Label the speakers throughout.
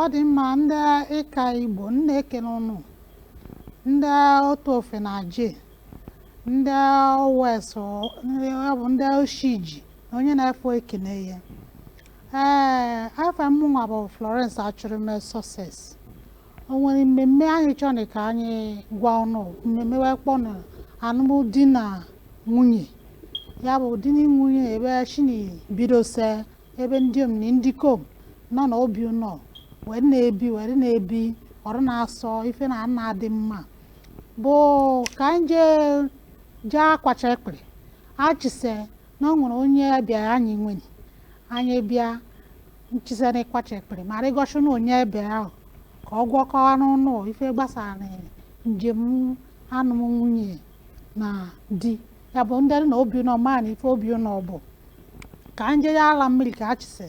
Speaker 1: ọ dị mma ndị ịka igbo na-ekene ụnụ ndị otofe na aje ndị owesu bụ ndị oshiji na onye na efa ekene ya ee efa mụnwa bụ florence achụrụme success o nweni mmemme anyị chọni ka anyị gwa ụnụ mmemme wa kpọ na anụm di na nwunye ya bụ di na nwunye ebe o shini bido se ebe ndiom na ndikom nọ na obi ụnọ wee na-ebi wee na-ebi o were na-asọ ife na ana adị mma bụ ka anyị jee jee akwacha ekpịrị achịse na o nweni onye ebịa anyị nweni onye ebịa n chiseni ịkwacha ekpịrị ma rị goshi ụnụ onye ebịa ahụ ka ọ ga-akọwanụ ụnụ ife gbasanị njem anụm nwunye na di ya bụ ndị na obi ụnọ mana ife obi ụnọ bụ ka n je ala mmiri ka achịse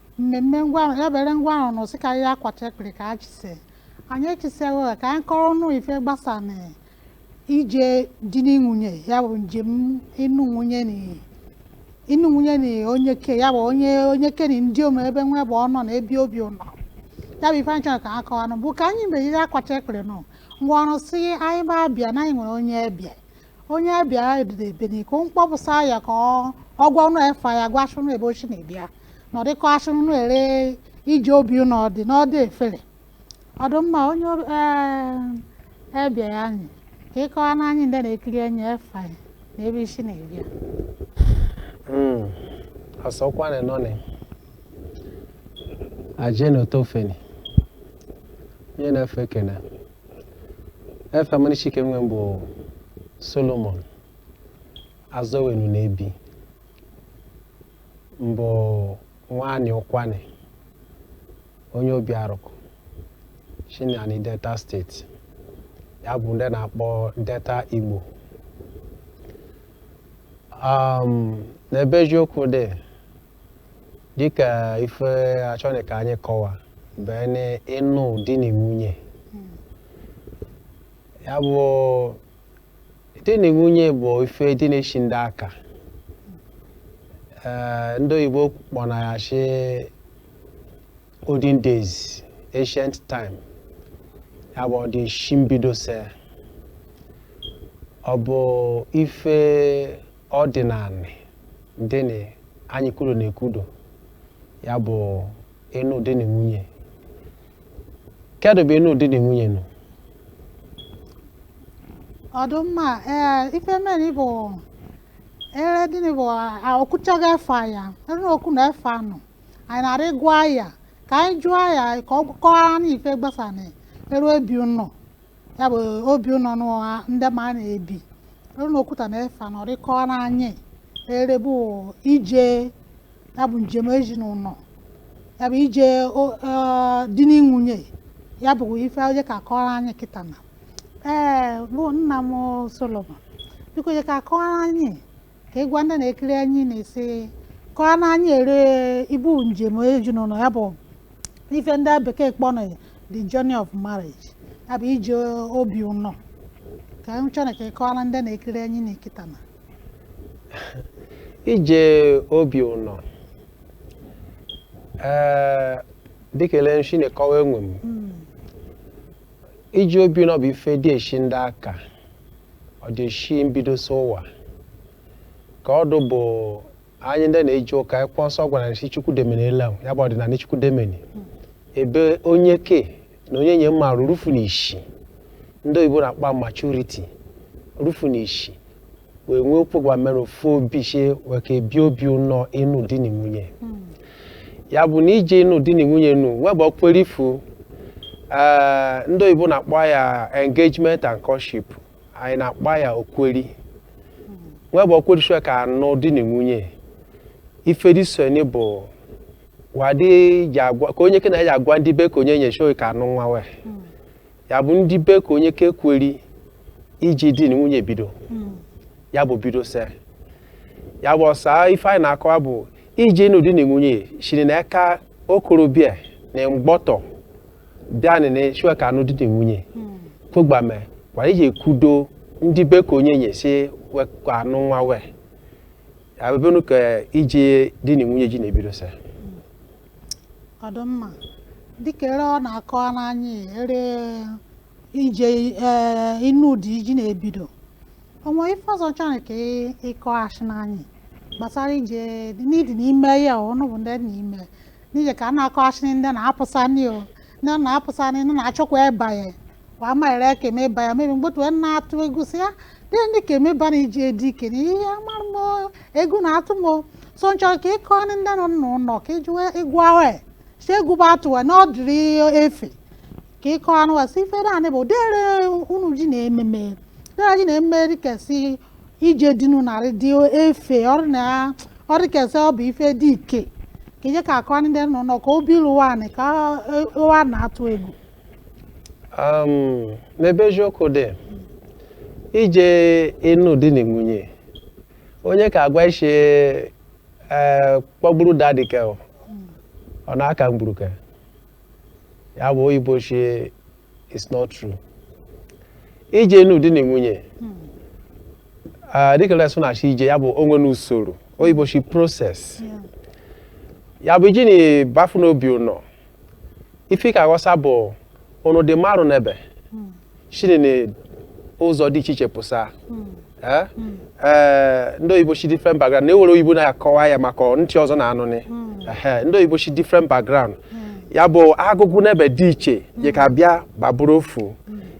Speaker 1: mmemme ngwa ahụ ya bere n gwa ụnụ sị ka e je akwacha ekpịrị ka a chise anyị echisego ka anyị kọrọ ụnụ ife gbasanị ije di na nwunye ya bụ njem ịnụ nwunye na ịnụ nwunye na onyeke ya bụ onye onyeke na ndiom ebe wa bụ ọnọ na-ebi obi ụnọ ya bụ ife anyị chọrọ ka ha kọwanụ bụ ka anyị mgbe e je akwacha ekpịrị n gwa ụnụ si anyị ma bịa na anyị nwere onye ebịa onye ebịa ebeni ka m kpọpụsa ya ka ọ- ọ gwa ụnụ efa ya gwasị ụnụ ebe o shi na-ebịa na ọ dị kọwasị ụnụ ere ije obi ụnụ ọdị na ọdị efere ọ dị mma onye ob- ee, ebịa anyị ka ị kọwanị anyị ndị na-ekiri enyi efa ya na ebe i shi na-ebịa Mm. Asọkwa na nọni. Aje na otofe ni. Onye na efa ekene a. efa m n'ishike nwe m bụ Solomon Azọwenu na-ebi m bụ nwa anị Ụkwụanị onye Obiaruku shi n'anị Delta state ya bụ ndị a na-akpọ Delta Igbo um, n'ebe eziokwu dị dịka ife a chọni ka anyị kọwa ebeni ịnụ di na nwunye ya bụ di na nwunye bụ ife dị na-eshi ndị aka ee ndị oyibo kpọ na ya shi olden days ancient time ya bụ ọ dị shi mbidose ọ bụ ife ọdịnanị dịnị anyị kwudo na-ekwudo ya bụ ịnụ di na nwunye kedụ bụ ịnụ di na nwunye nụ ọ dụ mma ee ife mere bụ ere dịnị bụ o kwutego efa ya ere okwu na efa nụ anyị na-arị gwa ya ka anyị jụọ ya ka ọ kọwara anyị ife gbasara ere ebi ụnọ ya bụ obi ụnọ n'ụwa ndị ma na-ebi ọrụ na okwuta na-efe anọrịkọ n'anyị erebe ije ya bụ njem ezinụlọ ya bụ ije o- eh, di na nwunye ya bụ ife onye ka akọrọ anyị kịta na ee bụ nna m solomon biko onye ka akọrọ anyị ka ị gwa ndị na-ekiri anyị na-esi kọọ na anyị ere ibu njem ezinụlọ ya bụ ife ndị bekee kpọrọ ya the journey of marriage ya bụ ije obi ụnọ ka m chọrọ ka ị kọọrọ ndị na-ekiri anyị na kịta na ije obi ụnọ ee dịka ele nshi na-ekọwa onwe m Ije obi ụnọ bụ ife dị eshi ndị aka ọ dị eshi mbido so ụwa ka ọ dụ bụ anyị ndị na-eje ụka akwụkwọ nsọ gwara anyị si chukwu demene ele ahụ ya bụ ọdịnanị chukwu demene ebe onyeke na onyenye ma ru rufu na ishi ndị oyibo na-akpa maturity rufu na ishi wee nwee ụpụgwa mere ofu obi sị wee ka ebi obi ụnọ ịnụ di na nwunye ya bụ na ije ịnụ di na nwunye nụ nwee bụ okweri ife ndị oyibo na-akpọ ya engagement and courtship anyị na-akpọ ya okweri nwee bụ ekweri sị ka anụ di na nwunye ife dị so ni bụ wadị ji agwa ka onyeke na ya ji agwa ndị be ka onyenye sị ka anụ nwa wee ya bụ ndị be ka onyeke ekweri ije di na nwunye bido hmm. ya bụ bido se ya bụ ọsa ife anyị na-akọwa bụ ije ịnụ di na nwunye shiri na aka okorobịa na mgbọtọ bịanị sị we ka anụ di na nwunye hmm. kwogbame kwa ijekwudo ndị be ka onyenye sị we ka anụ nwa wee ya bụ ebe ka ije di na nwunye ji na-ebido se ọ dị mma dịka ere ọ na-akọwa n'anyị ere ije ee ịnụ di ji na-ebido o nwe ife ọzọ chọrọ ka ị- ịkọghachi n'anyị gbasara ije ndị dị n'ime ya ọ ọnụ bụ ndị dị n'ime n'ije ka a na-akọghachi ndị na-apụsani o ndị na-apụsani ndị na-achọkwa ịbanye kwa maịrị ya ka emeba ya maybe mgbọtọ wee na-atụ egwu si ya dị ndị ka emeba na ije di ike na ihe amara m o, egwu na-atụ m o. so m chọrọ ka ị kọ ndị nne na nna ụlọ ka iji wee ịgụ ahụ ya si egwu bụ atụ wee na ọ dịrị efe ka ịkọ anụ wee si ife naanị bụ dere unu ji na ememe dere ji na ememe dịka si ije dinu narị dị efe ọrụ na ọ dịka si ọ bụ ife dị ike ka ije ka akọ ndị nna ụlọ ka obi lụwa anị ka ụwa na-atụ egwu um, n'ebe eziokwu dị ije ịnụ di na nwunye onye ka agwa ishi ee kpọgburu dadi ke ọ ọ na-aka mgburu ke ya bụ oyibo shie it's not true ije ịnụ di na nwunye ah, dịka lesụ na-achị ije ya bụ onwe na usoro oyibo shi process ya bụ iji na bafu n'obi ụnọ ife ka aghọsa bụ ụnụ dị marụ nebe shiri na ụzọ dị iche iche pụsa Eh? Eh, ndị oyibo shi different background na-ewere oyibo na-akọwa ya maka ndị ọzọ na-anụnị Ehe, ndị oyibo shi different background ya bụ agụgụ nebe dị iche je ka bịa ba bụrụ ofu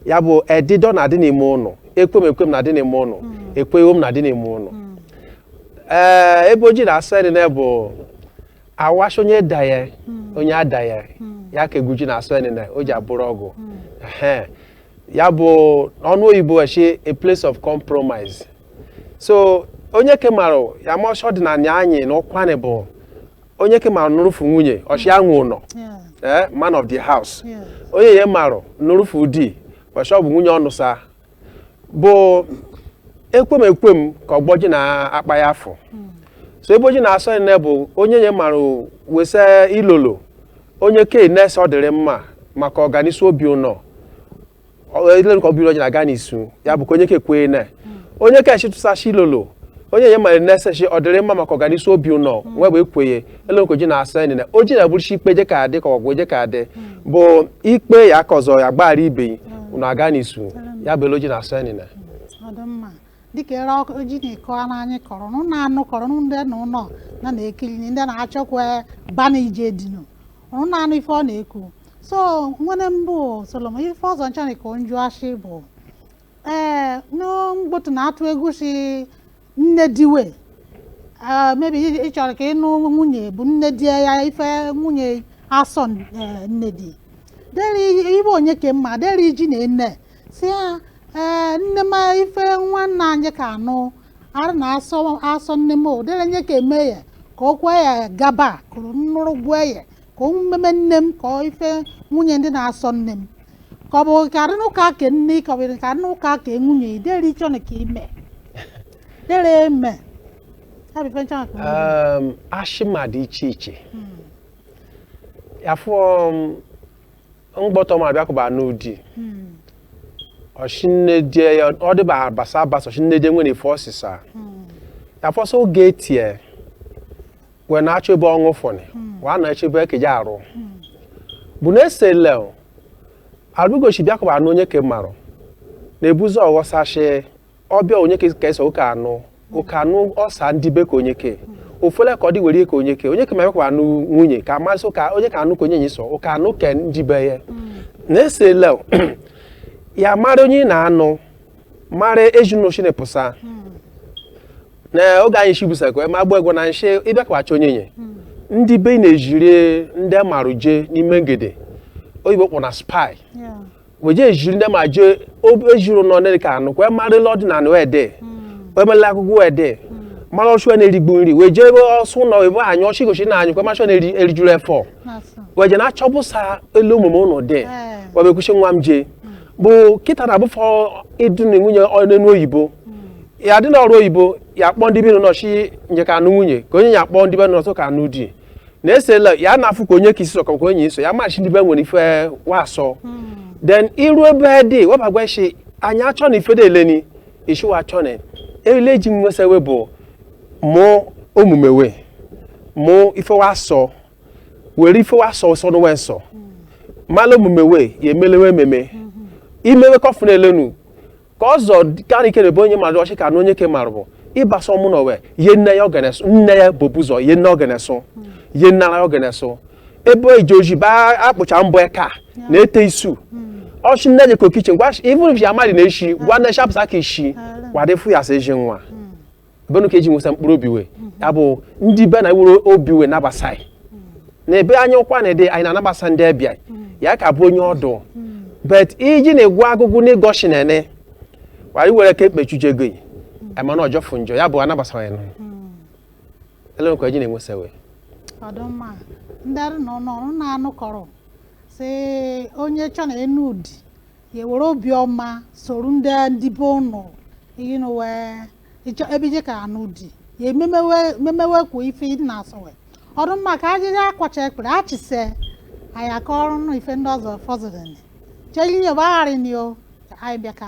Speaker 1: ya bụ edidọ na-adị n'ime ụnụ ekwem ekwem na-adị n'ime ụnụ ekweghom na-adị n'ime ụnụ ee ebe o ji na-asọ enene bụ awa shị onye daya hmm. onye adaya hmm. ya ka egwu ji na-asọ enene o ji abụrụ ọgụ hmm. ya bụ ọnụ oyibo we shi a place of compromise so onye ke marụ ya ma ọchọ dị na anya anyị na Ụkwanị bụ onye ke marụ nụrụfu nwunye o shi ya nwe ụnọ eh, man of the house onye ya marụ nụrụfu di ọchọ bụ nwunye ọ nụsa bụ ekwem ekwem ka ọgbọ ji na-akpa ya afọ so ebe o ji na-asọ enene bụ onye nye marụ wesa ilolo onye ke enee si ọ dịrị mma maka ọganisu obi ụnọ ileruka obi ụnọ ji na-aga n'isu ya bụ ka onye kekwe na onye ka echitụsachi ilolo onye nye marụ nee shi ọ dịrị mma maka ọganisu obi ụnọ we bụ ekwenye ele ka o ji na-asọ enene o ji na bụrụ ikpe je ka adị ka ọgụ je ka adị bụ ikpe ya ka ọzọ ya gbaghara ibe yi unu aga n'isu ya bụ ele o ji na-asọ enene ọ dị mma dịka ere ọkụ ji na-ekọ ara anyị kọrọ nụ na-anụ kọrọ nụ ndị nọ n'ụlọ na na-ekiri na ndị na-achọkwa bana ije dinu nụ na-anụ ife ọ na-ekwu so nwene m bụ Solomon ife ọzọ m chọrọ ka m jụa shị bụ ee mgbọtọ na-atụ egwu si nne di we ee maybe ị ị chọrọ ka ịnụ nwunye bụ nne di ya ife nwunye asọ ee, nne di deri ibe onye ka mma deri ji na ene si ya ee nne m ife nwanne anyị ka anụ arụ na asọ asọ nne m o dere nye ka eme ya ka o kwee ya gaba kụrụ nnụrụ gwee ya ka omume nne m ka ọ ife nwunye di na-asọ nne m ka ọ bụ ka arịna ụka ke nne ka ọ bụ ka arịna ụka ke nwunye ideri chọnụ ka ime dere eme ya bụ ife nchọnụ ka nwunye um, ashima dị iche iche afọ mgbọtọ ma abịakụba n'ụdị ọshinneje ya ọ dịba abasa abasa ọshinneje nwere ife ọsịsa afọsọ oge etie wee na-achọ ebe ọṅụ fọnị wee na-achọ ebe ekeje arụ bụ na esele arụgochi bịakọba anụ onye ke marụ na-ebuzi ọghọsachi ọbịa onye ke ka ese ụka anụ ụka anụ ọsa ndị be ka onye ke ofele ka ọ dị were ka onye ke onye ke ma bịakọba anụ nwunye ka amasị ụka onye ka anụ ka onye nyi sọ ụka anụ ke ndị be ya na esele ya mara onye ị na-anụ mara ezinụlọ shi na pụsa na oge anyị shibusakwa eme agba egwu na nshi ịbịakwacha onye nye ndị be na-ejiri ndị a marụ jee n'ime nke ndị oyibo kpọ na spy Yeah. weje ejiri ndị ma jee ob- ejiri nọ ndị ka anụ kwa marịla ọdịnala wee dị emela akụkọ wee dị mara ọchụ na-erigbu nri wee jee ebe ọsụ ụlọ ebe anyị ọchị gochi na anyị kwa machọ na-eri erijuru efọ That's all. weje na-achọbụsa elu omume ụnụ dị Eh. webekwuchi nwa m jee bụ kịta na abụfọ ịdị na nwunye n'enu oyibo ya dị n'ọrụ oyibo ya kpọọ ndị bino nọchi nye ka anụ nwunye ka onye ya kpọọ ndị be nọtụ ka anụ di na esela ya na-afụ ka onye ka isi sọkọ ka onye iso ya machi ndị be nwere ife wa sọ then i ru be di webagwa ị shi anyị achọ na ife deleni i shi wa achọ na ele ji nwesa we bụ mụ omume we mụ ife wa sọ were ife wa sọ sọnụ wa nsọ mala omume we ya emele we ememe i me we kọfụ na-elenu ka ọzọ karị ike na-ebe onye mmadụ ọchị ka na onye ke mara bụ ịbasa ọmụ na owe ye nne ya ogeneso nne ya bobu ụzọ ye nne ogeneso ye nnara ya ogeneso ebe eji oji ba akpụcha mbọ eka na ete isu ọchị nne je kitchen ngwa even if ya amadị na eshi gwa nne shapụsa ka ishi wadịfu ya sa eji nwa benu ka eji nwesa mkpụrụ obi we ya bụ ndị be nwere obi wee nabasa anyị na be anyị ọ kwa ndị anyị na-anabasa ndị ọbịa ya ka bụ onye ọdụ bet iji na-egwu agụgụ n'ịgọshi na ene anyị were ka ekpechuje gị emana ọ jọfụ njọ ya bụ anabasa ya nụ ele nkwa eji na-enwesa we ọ dụ mma ndị arụ na ọnụ ọrụ na-anụkọrọ si onye chọ na enu ụdị ya ewere obiọma soro ndị ndị be ụnụ ihe na wee ịchọ ebe i je ka anụ di ya omume we memewe kwa ife ị na-asọwe ọ dị mma ka ajịrị akwacha ekpere achịse anyị aka ọrụ nụ ife ndị ọzọ fọzụrụ cheli yoba gharị nio anyị bịaka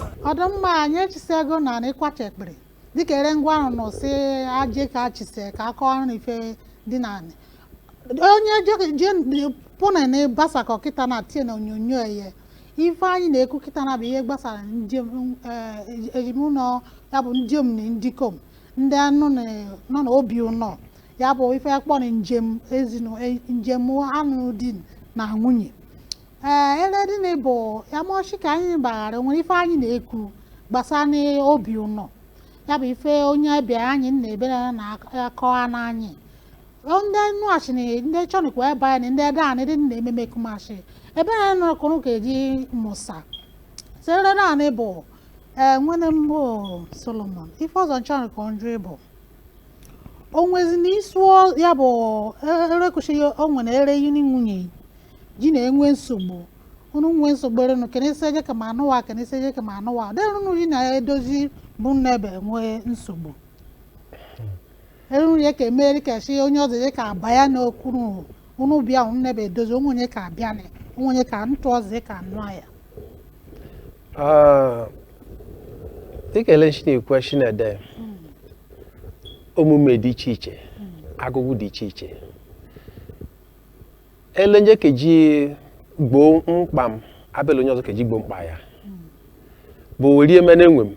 Speaker 1: ọ dị mma anyị echisego na anị ịkwacha ekpere dịka ere m gwarụ unu sị aje ka achise ka akọrụ unu ife dị na anị onye je- je pụna na gbasakọ kịta na tie na onyonyo eye ife anyị na-ekwu kịta na bụ ihe gbasara njem eh, ezinụlọ ya bụ ndịom na ndịkom ndị nọ na- nọ na obi ụnọ ya bụ ife akpọ na njem ezinụ eh, njem anụ di na nwunye ee ere dị nị bụ yamoshi ka anyị gbaghara o nwere ife anyị na-ekwu gbasara n'obi ụnọ ya bụ ife onye ebe anyị nna ebe na-akọwanị anyị ndị nụghachi na ndị chọnikwa ebe anyị na ndị ede anyị dị nna ememe kumashi ebe anyị nọkụrụ ka eji musa sere naanị bụ ee nwene m bụ solomon ife ọzọ m chọrọ ka m jụ ị bụ o nwezi na ịsụọ ya bụ erekwụsịghị o nwere ere gị na nwunye gị na-enwe nsogbu unu nwee nsogbu ere unu kenesi eje ka ma anụwa kenesi eje ka ma anụwa ere unu ji na-edozi bụ nna ebe nwee nsogbu eruru ya ka emeri ka si onye ọzọ ya ka aba ya n'okuru unu bịa unu nebe edozi onwe onye ka abịa na onwe onye ka ntụ ọzọ ya ka anụ ya Ah, dịka ele shi na-ekwu shi na-ede omume dị iche iche agụgụ dị iche iche ele m je keji gboo mkpa m abụ ele onye ọzọ keji gboo mkpa ya bụ werie mene enwe m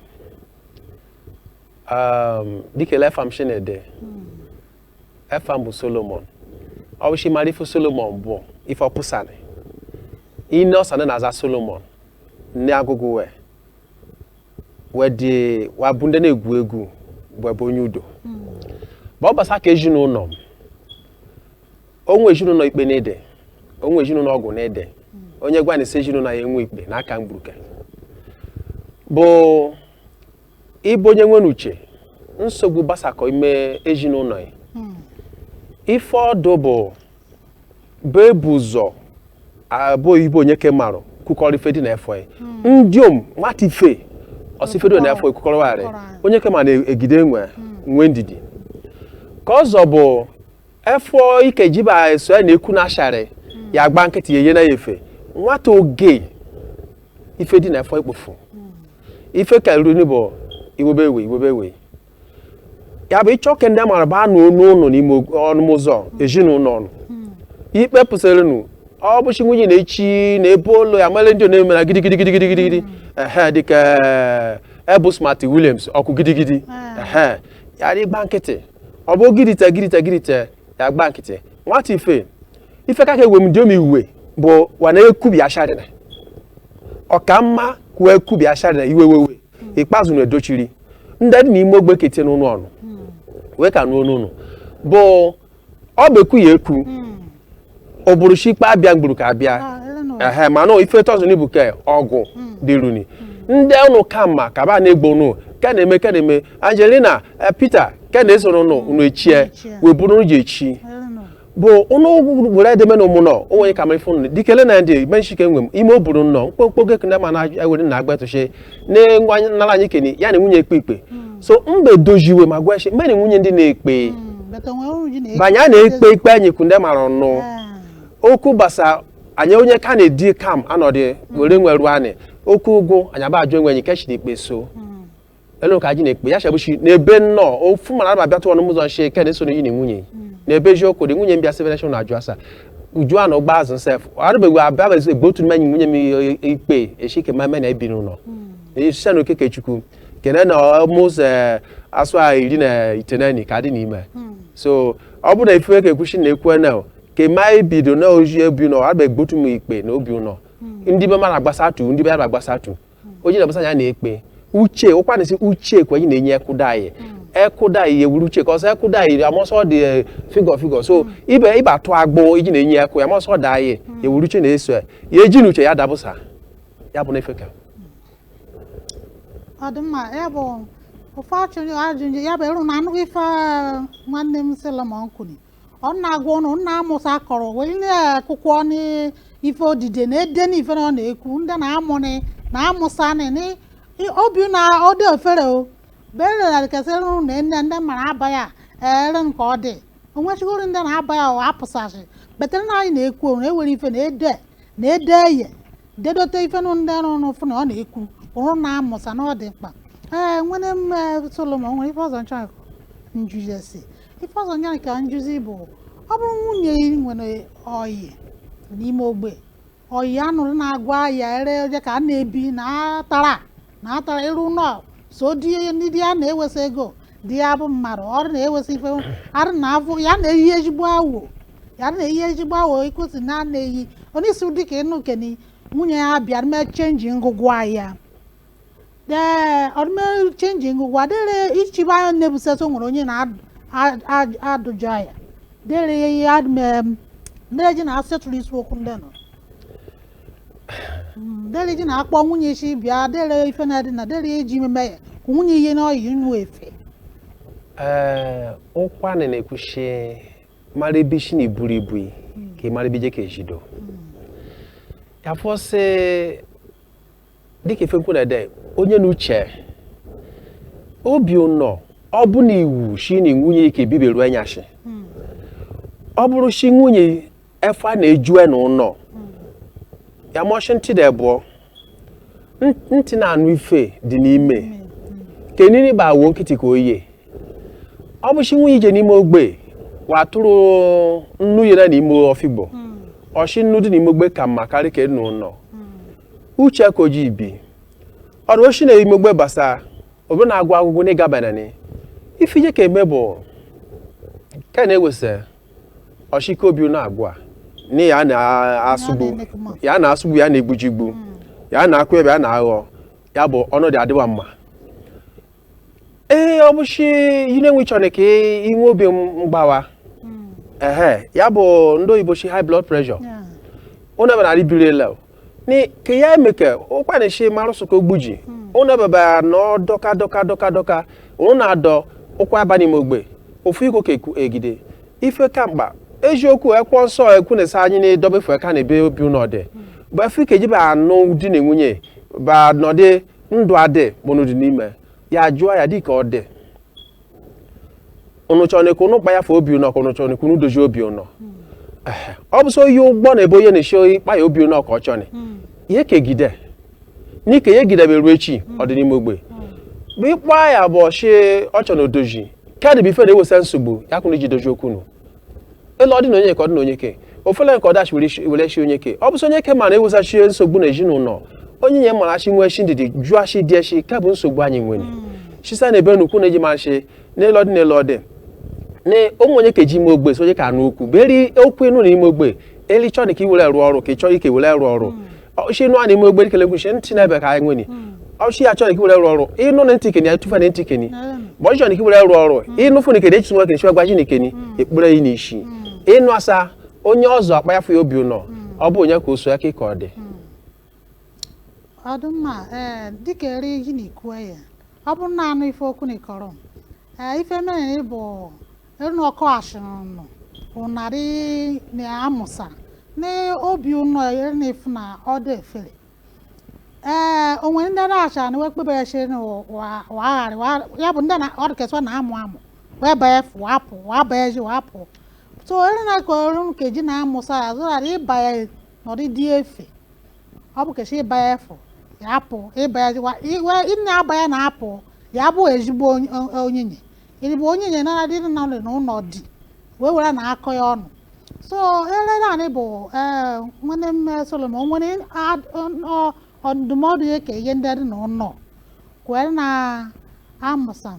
Speaker 1: um, dịka ele efa m shi na-ede efa m bụ solomon ọ bụ shi ị mara ife solomon bụ ife ọ pụsani ine ọsani na-aza solomon nee agụgụ we wee dị wa bụ ndị na-egwu egwu wa bụ onye udo ma ọ gbasa ka ezinụlọ m o nwe ezinụlọ ikpe na-ede o nwe ezinụlọ ọgụ na-ede onye gwanụ sị ezinụlọ ya enwe ikpe n'aka mgburuke bụ ị bụ onye nwere uche nsogbu basakọ ime ezinụlọ ya hmm. ife ọdụ bụ bụ ebu ụzọ bụ ị bụ onye ke marụ kukọrọ ife dị na efọ ya hmm. ndịom nwata ife ọ sị ife dị na efọ ekukọrọ warị onye ke ma na-egide onwe hmm. nwe ndidi ke ọzọ bụ efọ ike jiba eso ya na-ekwu na asharị ya agba nkịtị ya enye na ya efe nwata oge ife dị na efọ i kpofu ife karịrị ni bụ iwebe ewe iwebe ewe ya bụ ịchọ ke ndị amara baanụ unu ụlọ n'ime ọnụm ụzọ ezinụlọ unu ikpe pụsịrịnụ ọ bụ shi nwunye ị na-echi na ebe ụlọ ya mara ndị ọ na-emere gidigidi gidigidi gidigidi ehe dịka ebu smart williams ọkụ gidigidi ehe ya dị gba nkịtị ọ bụ gidita gidita gidita ya gba nkịtị nwata ife ife ka ka ewe m dị omi uwe bụ wana ekubi asharịna ọ ka mma kwuo ekubi asharịna iwe wewe ikpeazụ na-edochiri ndị dị n'ime ogbe kete n'ụlọ ụnụ wee ka n'ụlọ ụnụ bụ ọ bụ ekwu ya ekwu ọ bụrụ si ikpe abịa gburu ka abịa ehe mana ife tosini bụ ke ọgụ dịruni ndị ụnụ ka mma ka ba na-egbo ụnụ ka na-eme ka na-eme angelina eh, peter ka na-esoro ụnụ ụnụ echie wee bụrụ ụnụ ji echi bụ ụnụ were edeme na ụmụ nọ o nwere ka mara ife ụnụ dikele na ndị menshike nwe m ime o buru nnọọ mkpokpo gị ka ndị ma na-ewere na agba etụchi na-enwe nara anyị kene ya na nwunye ekpe ikpe hmm. so mgbe dojiwe ma gwa mgbe na nwunye ndị na-ekpe hmm, banye a na-ekpe ikpe anyị kwu ndị mara ọnụ ah. okwu gbasa anyị onye ka na-edi kam anọdụ hmm. were nweru anyị okwu ụgwụ anyị aba ajụ enwenyi kechi na ikpe so elu ka anyị na-ekpe ya shabuchi n'ebe nnọọ ofu mara aba bịatụ ọnụ ụzọ nche ken esoro yi na nwunye n'ebe eziokwu dị nwunye mbịa seven nation na-ajụ asa uju a na ụgba azụ sef arụbeghị abịabeghị egbe otu mmenyi nwunye m ikpe echi ke meme na ebi n'ụlọ ise na okeke chukwu kene na almost asụa iri na iteneni ka dị n'ime so ọ bụrụ na ife ka ekwuchi na ekwe na ke ma ebido na oji ebi ụlọ arụbeghị egbe otu m ikpe na obi ụlọ ndị be mara gbasatu ndị be mara gbasatu onye na-abụsa ya na-ekpe uche ọ kwa na-esi uche kwa anyị na-enye ekwụda anyị ekwụda anyị ewuru uche ka ọsọ ekwụda anyị amọsọ dị eh, figọ figọ so ibe ibe atụ agbụ iji na-enye ekwu ya amọsọ da anyị ewuru uche na-eso ya ya eji na uche ya dabụsa ya bụ na ife ka ọ dị mma ya bụ ife achọ ịjụ ajụjụ ya bụ ịrụ na anụghị ife nwanne m Solomon kwuru ọ na-agwa ụnụ na amụsa akọrọ wee nye akwụkwọ n'ife odide na ede n'ife na ọ na-ekwu ndị na amụnị na amụsa nị nị obi na ọ dị ofere o berelarikesịrị ụnụ na nne ndị mara aba ya ere nke ọ dị onwechigoro ndị na-aba ya ọ apụsasị better na anyị na-ekwu na ewere ife na ede na ede eye dedote ife nụ ndị arụ n'ụfụ na ọ na-ekwu ọ bụrụ na amụsa na ọ dị mkpa ee nwere m eh, solomon nwere ife ọzọ m chọ njujesi ife ọzọ nya ka m jụzi bụ ọ bụrụ nwunye ị nwere ọyị n'ime ogbe ọyị anụrụ na-agwa ya ere oje ka a na-ebi na atara na atara ịrụ ụlọ so di ndị di ya na-ewesa ego di ya bụ mmadụ ọrụ na-ewesa ife arụ na afọ ya na-eyi ezigbo awo ya na-eyi ezigbo awo ikwesị na na-eyi onye isi ụdị ka ịnụ keni nwunye ya bịa mee change ngụgwa ya ee ọdụme change ngụgwa dịrị ichiba anya na-ebusasị o nwere onye na-adụjọ ya dịrị ya adịme ndị eji na-asetụrụ isi okwu ndị nọ dere ji na-akpọ nwunye isi bịa dere ife na-adị na dere eji meme ya ka nwunye ihe n'ọyị nnu efe ee ụkwanị na-ekwu shi mara ebe i si na iburu ibu ka ị mara ebe i je ka ejido ya fọsị dịka ife nkwunede onye na uche obi ụnọ ọ bụ na iwu shi na nwunye ike biberu enyashi ọ bụrụ shi nwunye efe a na-ejue na ụnọ ya mụ shi ntị dị abụọ N- ntị na-anụ ife dị n'ime kenini bụ awuo nkịtị ka oye ọ bụrụ shi nwunye i je n'ime ogbe wa tụrụ nnu yere n'ime ọfigbo ọ shi nnu dị n'ime ogbe ka mma karị ke n'ụnọ uche ka oji ibi ọ bụrụ shi na ime ogbe gbasa obi na-agwa agwụgwụ na ịgabanani ife i je ka eme bụ ka na-ewesa ọ shi ka obi na-agwa na ya na-asụgbu ya na-asụgbu ya na-egbujigbu ya na-akụ ebe ya na-aghọ ya bụ ọnọdụ adịba mma ee ọ bụ shi ihe na-enwe chọrọ ka i nwe obi mgbawa ehe ya bụ ndị oyibo shi high blood pressure ụnụ ebe na-arị biri ele ka ya emeke ụkwanị shi marụsụ ka ogbuji ụnụ ebe ba na dọka dọka dọka dọka ụnụ na-adọ ụkwa aba n'ime ogbe ofu iko ka egide ife ka mkpa eziokwu ekwọ nsọ ekwu na-esa anyị na-edobefe ka na ebe obi ụnọ dị bụ efe ike jiba anụ di na nwunye ba nọdị ndụ adị mụnụ dị n'ime ya jụọ ya dịka ọ dị ụnụ chọrọ ka ụnụ kpa ya fa obi ụnọ ka ụnụ chọrọ ka ụnụ dozie obi ụnọ Ehe. ọ bụ so oyi ụgbọ na ebe onye na-eshi oyi kpa ya obi ụnọ ka ọ chọrọ ya ekegide n'ike ya egideberu echi ọ dị n'ime ogbe bụ ịkpa ya bụ ọ shi ọ chọrọ na odoji kedụ bụ ife na-ewesa nsogbu ya ka ụnụ ji dozie okwu ụnụ elu ọdị na onye ka ọ dị na onye ke ofele nke ọdachi were chi onye ke ọ bụsị onye ke mara ewuzachi nsogbu na ezinụlọ onye nye mara shi nwee shi ndidi jụọ shi dị echi ka bụ nsogbu anyị nwere chisa hmm. na ebe nnukwu na-eji ma shi n'elu ọdị n'elu ọdị na ụmụ onye ka eji ime ogbe so onye ka anụ okwu beri okwu ịnụ na ime ogbe eli chọọ ka i were rụọ ọrụ ka ị chọọ ike were rụọ ọrụ hmm. ọ shi nụ a na ime ogbe dịkele gwuchie ntị na-ebe ka anyị nwere ọ shi ya chọrọ iki were rụọ ọrụ ịnụ na ntị keni atụfa na ntị keni ma ọ shi ị chọrọ iki were rụọ ọrụ ịnụ fụ na keni echichi nwa keni chịwa gwaji na keni ekpere yi n'isi ịnụ asa onye ọzọ akpa ya fụ ya obi ụnọ ọ bụ onye ka o so ya ka ị ka ọ dị ọdụmma ee dịka eri ihe na ikwu ya ọ bụrụ na anụ ife okwu na ịkọrọ m Ee, ife mere bụ enu ọkụ ashịrịnụ ụnarị na amụsa na obi ụnọ ere na efu na ọ dị efere ee o nwe ndị na-acha na wee kpebere shi na wagharị ya bụ ndị na ọdụkeswa na amụ amụ wee banye fụ apụ wee banye ji wee apụ so ere na ka ọrụ nkeji na amụsa ya zụrara ịbanye na ọ dịghị efe ọ bụ ke shi ịba ya efu ya apụ ịba ya jikwa iwe ị na-aba ya na-apụ ya bụ ezigbo onye- o- onyenye ị bụ onyenye na-adị na na ụnọ di wee were na-akọ ya ọnụ so ele naanị bụ ee nwanne m eh, solomon nwere ad- ọ- ọ- ọ ndụmọdụ ya ka ihe ndị dị na ụnọ kwere na amụsam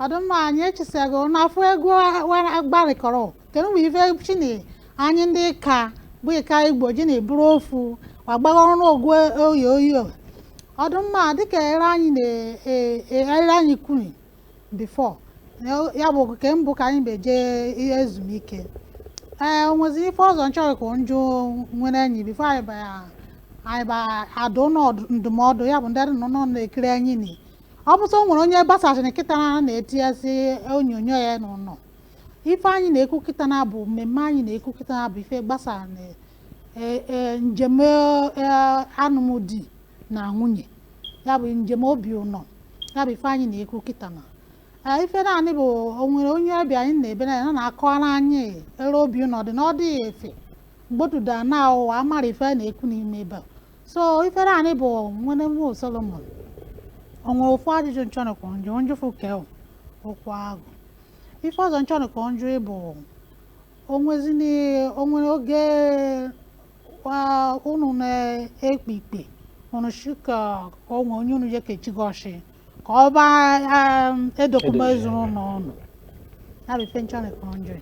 Speaker 1: ọ dị mma anyị echisago na-afụ egwu gbarịkọrọ kedu mgbe ife chini anyị ndị ka bụ ịka igbo ji na iburu ofu agbagha ọrụ egwu oyoyo ọ dị mma dịka ere anyị na- ere anyị kwuru before ya bụ ke mbụ ka anyị beje ihe ezumike ee o nwezi ife ọzọ m chọrọ ka m jụọ nwanne anyị before anyị ba anyị ba adụ ndụmọdụ ya bụ ndị nọ na-ekiri anyị ni ọ bụ sọ o nwere onye gbasasịrị kịta na na-etinyezi onyonyo ya n'ụnọ ife anyị na-ekwu kịta na bụ mmemme anyị na-ekwu kịta na bụ ife gbasara e- e- njem e, anụmdi na nwunye ya bụ njem obi ụnọ ya bụ ife anyị na-ekwu kịta na Ee, ife naanị bụ o nwere onye ọbịa anyị nọ ebe na ya na na-akọwara anyị ere obi ụnọ dị na ọ dịghị efe mgbotuda na ụwa amara ife a na-ekwu n'ime ebe a so ifere anyị bụ nwanne m solomon o nwere ofu ajụjụ m chọrọ ka m jụọ m jụọ ofu ke okwu ahụ ife ọzọ m chọrọ ka m jụọ bụ o nwezini o nwere oge wa unu na-ekpe ikpe unu shi ka o nwe onye unu je kechigoshi ka ọ ba edokọme ezinụnọ ọnụ ya bụ ife m chọrọ ka m jụọ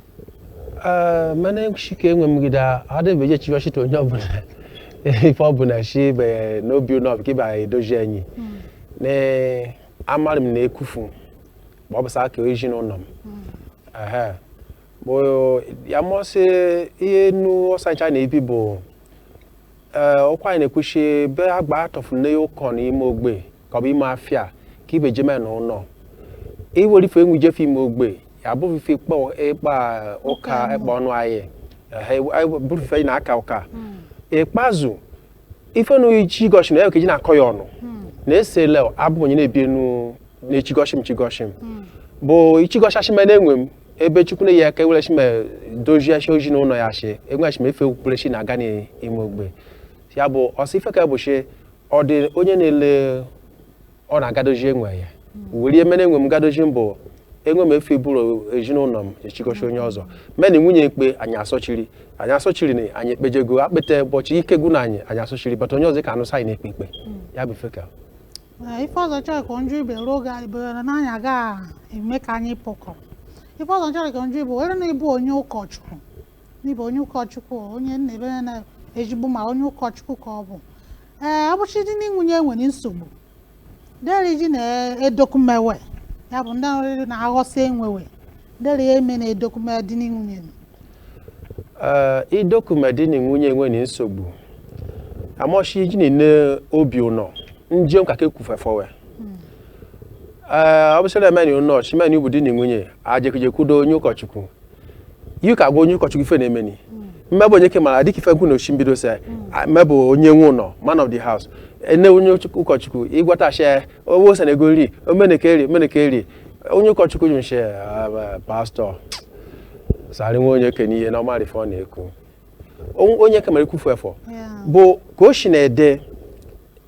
Speaker 1: Ee, mana chike enwe mgide adịbeghị chiwa shite onye ọbụla ife ọbụla shi be n'obi ụnọ ka ịba edozi enyi na amara m na ekufu ma ọ bụ saa ka ezi na ụnọ m Ehe. Bụ ya mọsị ihe nu ọsancha na-ebi bụ ee, ọkwa anyị na-ekwuchi be agba atọfuru na ụkọ n'ime ogbe ka ọ bụ ime afịa ka ibe jeme na ụnọ iwere ife enwe ijefe ime ogbe ya bụrụ ife ịkpa ịkpa ụka ịkpa ọnụ anyị ehe, anyị bụrụ ife anyị na-aka ụka ikpeazụ ife na oyi chigoshi m na ekeji na-akọ ya ọnụ na-asị lee o abụ m onye na-ebi enu na-echigoshi m chigoshi m bụ ichigoshashim na-enwe m ebe chukwu na-enye aka e were shi m dozie shi ezi na ụnọ ya shi enwe shim efe okpukpere shi na-aga n'ime ogbe ya bụ ọsọ ife ka bụ shi ọ dị onye na-ele ọ na-agadozi onwe ya were ihe mere onwe m gadozi mbụ onwe m efe bụrụ ezinụlọ m echikọcha onye ọzọ mụ na nwunye ikpe anyị asọchiri anyị asọchiri na anyị ekpejego akpete ụbọchị ike gwụ na anyị anyị asọchiri bata onye ọzọ ka anụsa anyị na-ekpe ikpe ya bụ feka Ee, ife ọzọ m chọrọ ka m jụ ibe ruo ga ibere na anyị agaghị eme ka anyị pụkọ ife ọzọ m chọrọ ka m jụ ebe ọ bụrụ na ị bụ onye ụkọchukwu na ị bụ onye ụkọchukwu onye na-ebere na ezigbo ma onye ụkọchukwu ka ọ bụ ee ụbọchị di na nwunye nwere nsogbu deri ji na-edokumewe ya bụ ndị ọrịrị na-aghọsị onwe we deri ya eme na-edokume di na nwunye ee idokume di na nwunye nwere nsogbu amọchi ji na-ene obi ụnọ njem ka ka ekwufefọwe ee ọ bụsịrị emeni ụnọ chimeni bụ di na nwunye ajekijekwudo onye ụkọchukwu ya ka gwa onye ụkọchukwu ife na-emeni hmm. mmebụ onye ke mara dịka ife m kwu na ishi mbido se hmm. mmebụ onye nwe ụlọ man of the house ene onye ụkọchukwu ịgwata asha owe ose na ego nri omeneke eri omeneke eri onye ụkọchukwu ji nche ah, pastọ sarị nwe onye ke n'ihe na ọ marị ife ọ na-ekwu onye ke mara ikwufu efọ bụ ka o si na-adị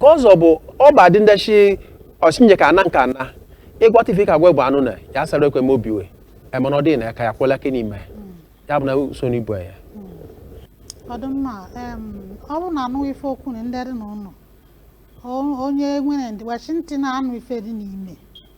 Speaker 1: ke ọzọ bụ ọba dị ndechi ọchinye ka ana nka na ịgwata ife ka gwa bụ anụ na ya sara ekwe m obi we emana ọ dị na aka ya kwụla ka n'ime ya bụ na so n'ibu ya ọ dị mma em, ọ bụrụ na anụ ife okwu na ndị dị n'ụlọ o- onye nwere ndịwachi ntị na-anụ ife dị n'ime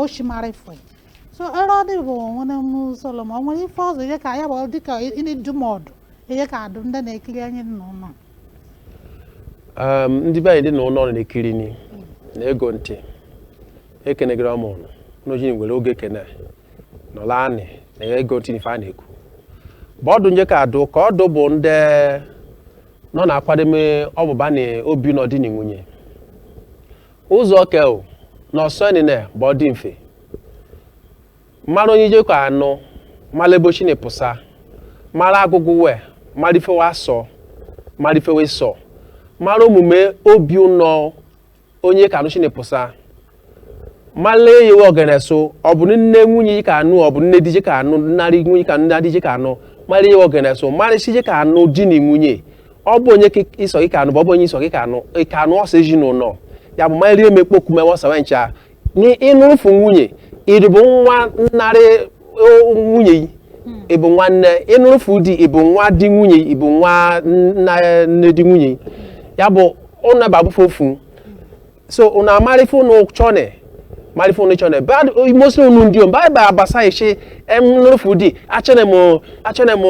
Speaker 1: oshimarịfụ so ere ọ dịbụ nwere m solomon o nwere ife ọzọ ije ka ya bụ dịka ụdị ndụmọdụ ije ka adụ ndị na-ekiri anyị n'ụnọ Um, ndị be anyị dị n'ụnọ na-ekiri ni na-ege ntị ekenegara m ụnụ n'ojini were oge kene nọla anị na ya ege ntị n'ife a na-ekwu bụ ọdụ m je ka adụ ka ọdụ bụ ndị nọ na-akwademe ọbụba na obi ụnọ di na nwunye Ọzọ ke o na ọsọ nile bụ ọ dị mfe. Mara onye ije ka anụ, mara ebe o shi ni pụsa, mara agụgụ we, mara ife we asọ, mara ife we sọ, mara omume obi ụnọ onye ka anụ shi ni pụsa, mara eyewe ogene so, ọ bụ nne nwunye ije ka anụ, ọ bụ nne di ije ka anụ, nnarị nwunye ka nna di ije ka anụ, mara eyewe ogene so, mara isi ije ka anụ di na nwunye, ọ bụ onye ịsọ gị ka anụ bụ ọ bụ onye ịsọ gị ka anụ ka anụ ọsọ ezinụlọ ya bụ ma rie m ekpoku ma ọsọ we ncha ị nụrụfu nwunye ị dị bụ nwa nnarị nwunye yi ị bụ nwa nne ị nụrụfu di ị bụ nwa di nwunye ị bụ nwa nne di nwunye ya bụ ụnụ ebe abụfe ofu so unu amara ife unu chọne mara ife unu chọne but mostly unu ndị om baịbụl abasa ishi emnufu di achene m achene m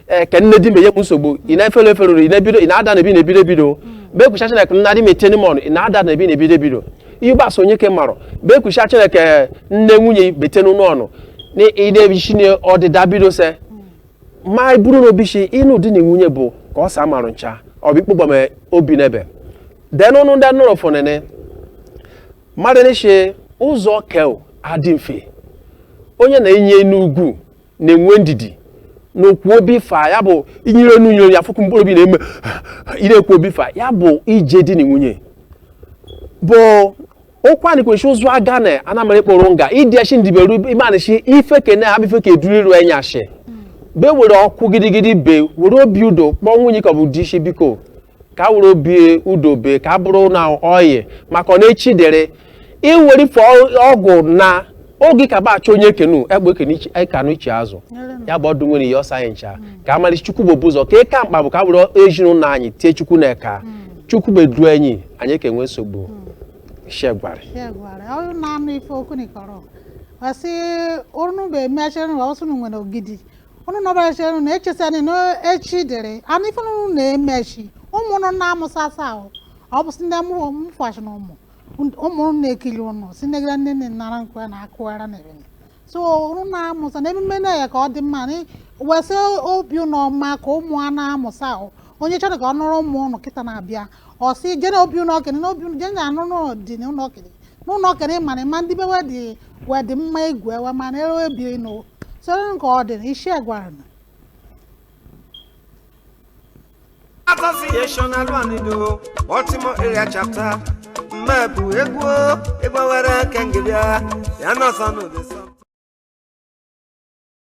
Speaker 1: eh, ke nne di m enye m nsogbu ị na-efere eferuru ị na-ebido ị na-ada na ebi na-ebido ebido bekwucha chineke nna di m eteni m ọnụ ị na-ada na ebi na-ebido ebido ibasa onye ke marụ bekwucha chineke nne nwunye betenu n'ọnụ na ị na-ebichi na ọdịda bido se ma buru n'obi shi ịnụ di na nwunye bụ ka ọ sa marụ ncha ọ bụ ikpụgbam obi n'ebe then ụnụ ndị anụrụ fụnene mmadụ n'ishi ụzọ kel adị mfe onye na-enye n'ugwu na-enwe ndidi n'okwu obi fa ya bụ inyere n'unyere ya fụkụ mkpụrụ obi na-eme ị na-ekwu obi fa ya bụ ije di na nwunye bụ ụkwa nikwechi ụzụ aga na anamara kpọrọ nga ịdị echi ndiberu imanisi ife kene ha bife ka eduru iru enyashi be were ọkụ gidigidi be were obi udo kpọọ nwunye ka ọ bụ di isi biko ka were obi udo be ka bụrụ na oyi maka ọ na-echi dere iwere fọ ọgwụ na oge ka bacha onye kenu egbe ekene ichi- ekanụ ichi azụ ya bụ ọdụ nwere ihe ọ sa anyị ncha ka amalisi chukwu bụ ụzọ ka ịka mkpa bụ ka were ezinụlọ anyị tie chukwu n'eka chukwu beduru anyị anyị ka enwe nsogbu shegwarị ya gwara ọ bụrụ na anụ ife okwu nikọrọ ọ sị unu bụ emechere na ọsụ nwere ogidi unu nọbachere na echesani na echi dịrị anụ ife unu na-emechi ụmụ unu na-amụsasa ahụ ọ bụ si ndị mụrụ mfachi na ụmụ ụmụ unu na-ekiri unu si negara nne nne nara nkwe na akụwara na ebene so unu na-amụsa na emume na ya ka ọ dị mma na wesị obi unu ọma ka ụmụ a na-amụsa ahụ onye chọrọ ka ọ nụrụ ụmụ unu kịta na-abịa ọ sị jee n'obi ụlọ okenye n'obi ụlọ jee na-anụ n'ọdị n'ụlọ okenye n'ụlọ okenye mana ma ndị bewe dị wee dị mma igwe ewe mana ere obi nụ soro nke ọ dị na isi gwara na Association Alwanido, Baltimore Area Chapter, mmebu ego e ga-ewere Kengibia, Yanasanu Desa.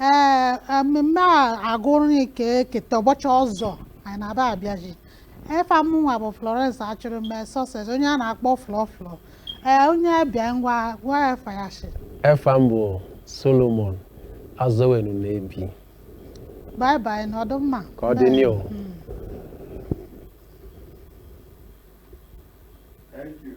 Speaker 1: ee mmemme a agụrụ na ike eketa ụbọchị ọzọ anyị na-aba abịaji efa mụnwa bụ Florence Achụrụme Success onye a na-akpọ Flo Flo ee onye ọbịa ngwa gwa efa ya shi efa m bụ Solomon Azowenu na-ebi bye bye nọdụ mma ka ọ dị n'ihu Thank you.